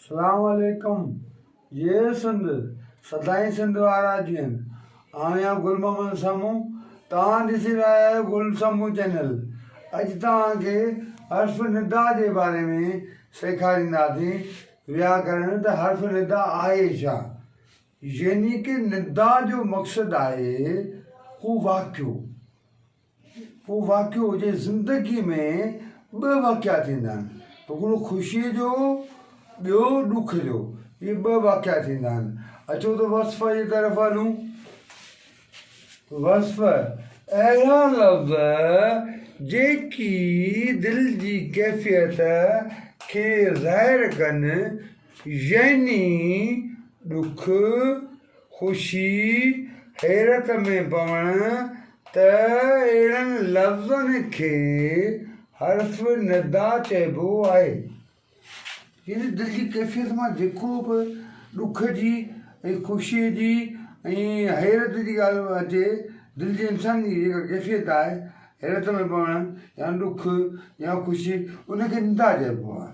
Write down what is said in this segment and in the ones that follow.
سلام عليڪم جئي سنڌ سدائين سنڌ وارا جيئن آهيان گل محمد سمون توهان ڏسي رهيا آهيو گل سمون چينل اڄ توهان کي حرف ندا جي باري ۾ سيکارينداسين وياڪرڻ ته حرف ندا آهي ڇا يعني ڪه ندا جو مقصد آهي ڪو واقعو. ڪو واقعو هجي زندگي ۾ ٻه واقعا ٿيندا آهن هڪڙو خوشيء جو ٻيو ڏک جو اهي ٻه واقعا ٿيندا آهن اچو ته وصف جي طرف هلون وصف اهڙا لفظ جيڪي دل جي ڪيفيت کي ظاهر ڪن يعني ڏک خوشي حيرت ۾ پوڻ ته اهڙن لفظن کي حرف ندا چئبو آهي. يعني دل جي ڪيفيت مان جيڪو به ڏک جي ۽ خوشيء جي ۽ حيرت جي ڳالهه اچي، دل جي انسان جي جيڪا ڪيفيت آهي، حيرت ۾ پوڻ يا ڏک يا خوشي ان کي ندا چئبو آهي.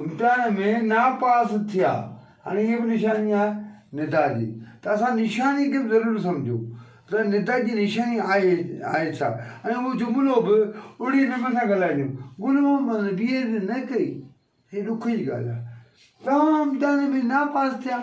امتحان ۾ ناپاس ٿيا هاڻي هيء به نشاني آهي ندا جي ته اسان نشاني کي به ضرور سمجهون ته ندا جي نشاني آهي آهي ڇا ۽ اهو جملو به اڙي نموني سان ڳالهائجون گل محمد بي ايڊ نه ڪئي هيء ڏک جي ڳالهه آهي توهان امتحان ۾ ناپاس ٿيا.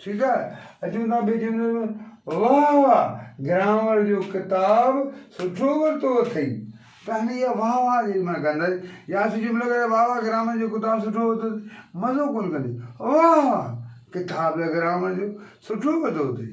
ٺيڪ آهي اچون ٿا ٻئي جملي ۾ واھ واھ گرامر جو ڪتاب سٺو ورتو اٿئي ته هن اها واھ واھ جيڏي مهل ڪندس يا اسين جملو ڪيو واھ واھ گرامر جو ڪتاب سٺو ورتو اٿئي مزو ڪونه ڪندي واھ واھ ڪتاب ته گرامر جو سٺو ورتو اٿئي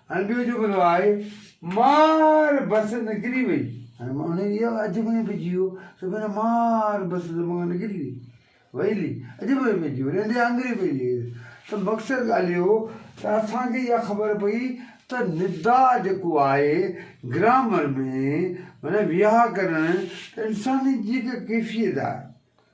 ۽ ٻيو جملو آهي، مار بس نڪري وئي. هاڻي مان انهيء جي اڄ ۾ به جيو سو بنا مار بس دماغ مان نڪري وئي. وئيلي اڄ ۾ به جيو ريندي آنگري پئي لير. ته مقصد ڳالهه اهو ته اسان کي اها خبر پئي ته ندا جيڪو آهي گرامر ۾ معنيٰ ويهاڪرڻ ته انساني جي هڪ ڪيفيت آهي.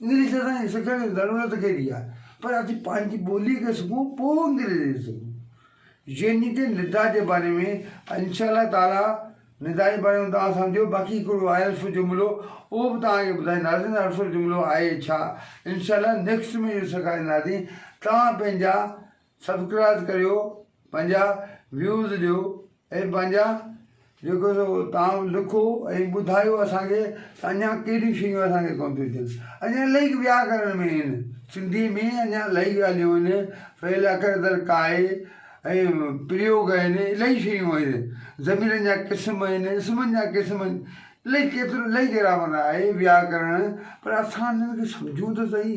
انگلش اسان جي سکڻ جي ضرورت ڪهڙي آهي پر اسين پنهنجي ٻولي کي سکون پوء انگريزي سکون جنهن تي ندا جي باري ۾ انشاء الله تعالي ندا جي باري ۾ توهان سمجهو باقي هڪڙو آهي الف جملو اهو به توهان کي ٻڌائينداسين ته الف جملو آهي ڇا انشاء الله نيڪسٽ ۾ اهو سيکارينداسين توهان پنهنجا سبڪرائز ڪريو پنهنجا ويوز ڏيو ۽ پنهنجا جيڪو سو تان لکو ۽ ٻڌايو اسان کي ته اڃا ڪهڙيون شيون اسان کي ڪون ٿيون اچن اڃا الائي وياڪرڻ ۾ آهن سنڌي ۾ اڃا الائي ڳالهيون آهن فعل اکر در ڪاء ۽ پريوگ آهن الائي شيون آهن ضميرن جا قسم آهن اسمن جا قسم آهن الائي ڪيترو الائي گرامر آهي وياڪرڻ پر اسان انهن کي سمجهون ته سهي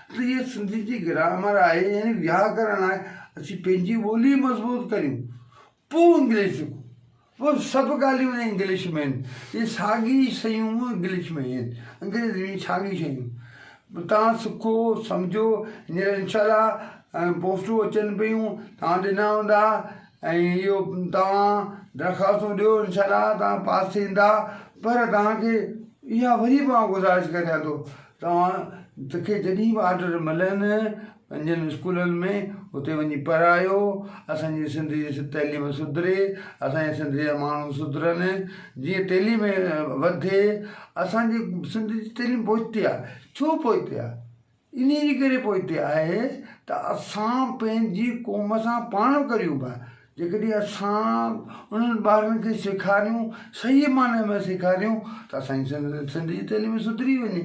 ته هيء سنڌي جي گرامر آهي يعني وياڪرڻ آهي، اسين پنهنجي ٻولي مضبوط ڪريون پوء انگلش سکون، پوء سڀ ڳالهيون هن انگلش ۾ آهن، هي ساڳي شيون انگلش ۾ آهن، انگريزي ۾ ساڳي شيون توهان سکو سمجهو، هينئر انشاء الله پوسٽون اچن پيون توهان ڏنا هوندا ۽ اهو توهان درخواستون ڏيو انشاء الله توهان پاس ٿيندا، پر توهان کي اها وري به آئون گذارش ڪريان ٿو توهان کي جڏهن به آرڊر ملن پنهنجن اسڪولن ۾ اتي وڃي پڙهايو اسان جي سنڌ جي تعليم سڌري اسان جي سنڌ جا ماڻهو سڌرن جيئن تعليم وڌي اسان جي سنڌ جي تعليم پوئتي آ ڇو پوئتي آ انهي جي ڪري پوئتي آهي ته اسان پنهنجي قوم سان پاڻ ڪريون پيا جيڪڏهن اسان انهن ٻارن کي سيکاريون صحيح معني ۾ سيکاريون ته اسان جي سنڌ جي تعليم سڌري وڃي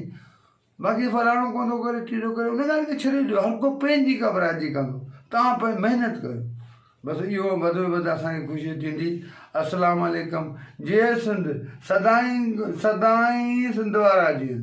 باقي فلاڻو ڪو ٿو ڪري ٽيڏو ڪري ان ڳالهه کي ڇڏي ڏيو هر ڪو پنهنجي گهٻرائجي ڪندو توهان پنهنجي محنت ڪريو بس اهو وڌ ۾ وڌ اسان کي خوشي ٿيندي السلام عليڪم جئي سنڌ سدائين سدائين سنڌ وارا جيئن